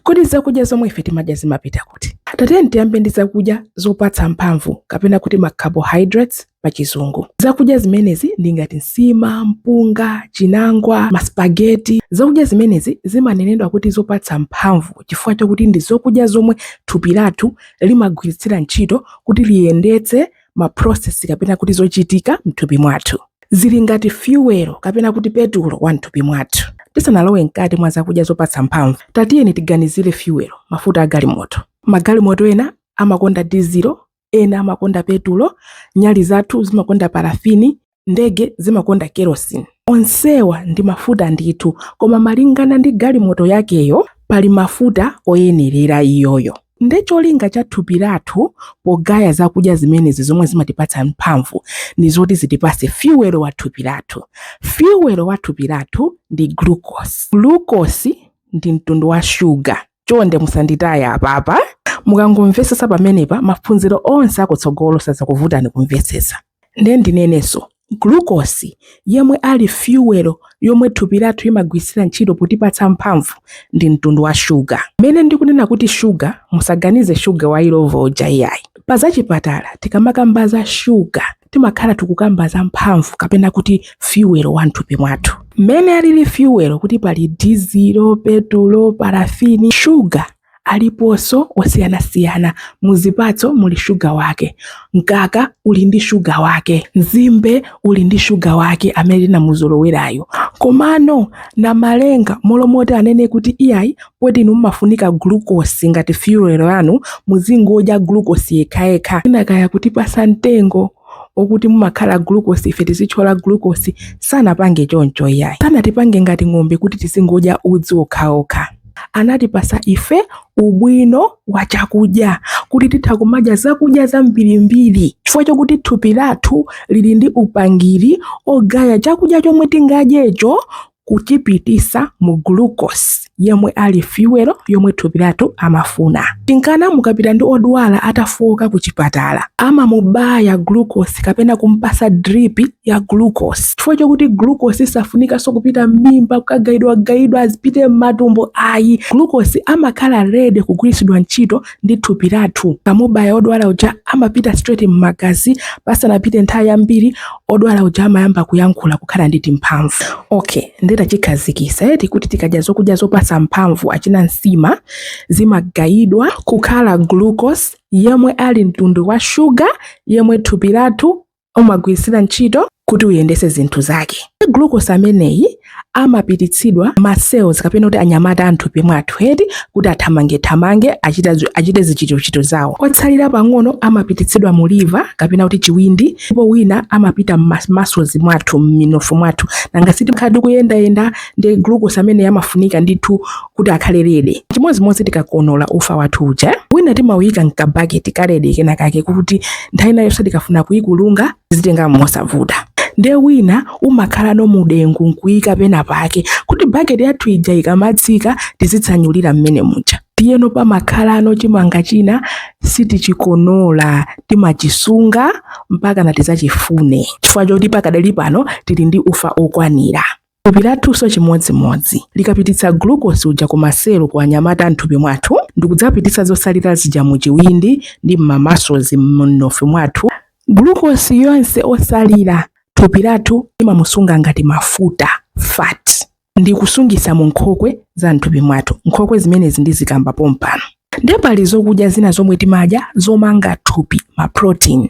Kodi zakudya zomwe ife timadya zimapita kuti? Tatiyeni tiyambe ndi zakudya zopatsa mphamvu kapena kuti ma carbohydrates pa chizungu. Zakudya zimenezi ndi ngati nsima, mpunga, chinangwa, maspageti. Zakudya zimenezi zimanenedwa kuti zopatsa mphamvu chifukwa chakuti ndi zokudya zomwe thupi lathu limagwiritsira ntchito kuti liyendetse ma process kapena kuti zochitika mthupi mwathu zili ngati fuel kapena kuti petulo wa mthupi mwathu tisanalowe mkati mwa zakudya zopatsa mphamvu tatiyeni tiganizire fuel mafuta a galimoto magalimoto ena amakonda dizilo ena amakonda petulo nyali zathu zimakonda parafini ndege zimakonda kerosene onsewa ndi mafuta ndithu koma malingana ndi galimoto yakeyo pali mafuta oyenerera iyoyo nde cholinga cha thupi lathu pogaya zakudya zimenezi zomwe zimatipatsa mphamvu ndi zoti zitipase fiwelo wa thupi lathu fiwelo wa thupi lathu ndi glucose glucose ndi mtundu wa shuga chonde musanditaye apapa mukangomvesesa pamenepa maphunziro onse akutsogolo sazakuvutani kumvesesa Nde ndinenenso, glucose yemwe ali fuel yomwe thupi lathu imagwiritsira ntchito potipatsa mphamvu ndi mtundu wa sugar. Mmene ndikunena kuti sugar musaganize sugar wa Illovo uja iyayi. Pa zachipatala tikamakamba za sugar timakhala tikukamba za mphamvu kapena kuti fuel wa mthupi mwathu. Mmene alili fuel kuti pali dizilo, petulo, parafini, sugar Aliponso osiyanasiyana. Mu zipatso muli shuga wake. Mkaka uli ndi shuga wake. Nzimbe uli ndi shuga wake amene tinamuzolowerayu. Komano Namalenga m'malo moti anene kuti iyayi poti inu mumafunika glucose ngati fuel yanu, muzingodya glucose yekhayekha, mwina kaya kutipatsa mtengo, okuti mumakhala glucose ife tizitchola glucose sanapange choncho iyayi sanatipange ngati ng'ombe kuti tizingodya udzu okhaokha anatipasa ife ubwino wa chakudya kuti titha kumadya zakudya zambirimbiri chifukwa chokuti thupi lathu lili ndi upangiri ogaya chakudya chomwe tingadyecho kuchipitisa mu glucose yemwe ali fuel yomwe thupi lathu amafuna tinkana mukapita ndi odwala atafoka ku chipatala amamubaya glucose kapena kumpasa drip ya glucose chifukwa chokuti glucose safunikanso kupita m'mimba kukagaidwagaidwa azipite m'matumbo ayi glucose amakhala ready kugwiritsidwa ntchito ndi thupi lathu. Tikamubaya wodwala uja amapita straight m'magazi, pasanapite nthawi yambiri wodwala uja amayamba kuyankhula kukhala ndi timphamvu. Okay, ndiye tachikhazikitsa eti kuti tikadya zokudya zopatsa mphamvu achina nsima zimagayidwa kukhala glucose yemwe ali mtundu wa shuga yemwe thupi lathu umagwiritsira ntchito kuti uyendese zinthu zake. Glucose ameneyi amapititsidwa m'ma cells kapena kuti anyamata a m'thupi mwathu eti kuti athamange thamange achita achite zichitochito zawo otsalira pang'ono amapititsidwa mu liver kapena kuti chiwindi ndipo wina amapita m'ma muscles mwathu mminofu mwathu nanga siti pakhala ndi kuyenda yenda ndi glucose ameneyi amafunika ndithu kuti akhale ready chimodzimodzi tikakonola ufa wathu uja wina timauyika mkabaketi ka ready kena kake kuti nthawi ina iliyonse tikafuna kuyikulunga tizitenga mosavuta nde wina umakhalano mudengu nkuyika pena pake kuti baketi yathu ija ikamatsika tizitsanyulira mmene muja ndiyeno pamakhalano chimanga china sitichikonola timachisunga mpaka ntadzachifune chifukwa choti pakadali pano tili ndi ufa okwanira Thupi lathunso chimodzimodzi. Likapititsa glucose uja ku maselo ku anyamata a m'thupi mwathu ndi kudzapititsa zotsalira zija mu chiwindi ndi m'ma muscles m'minofu mwathu, glucose yonse otsalira thupi lathu limamusunga ngati mafuta, fat, ndi kusungitsa mu nkhokwe za m'thupi mwathu. Nkhokwe zimenezi ndizikamba pompano. Ndiye pali zokudya zina zomwe timadya zomanga thupi, ma protein.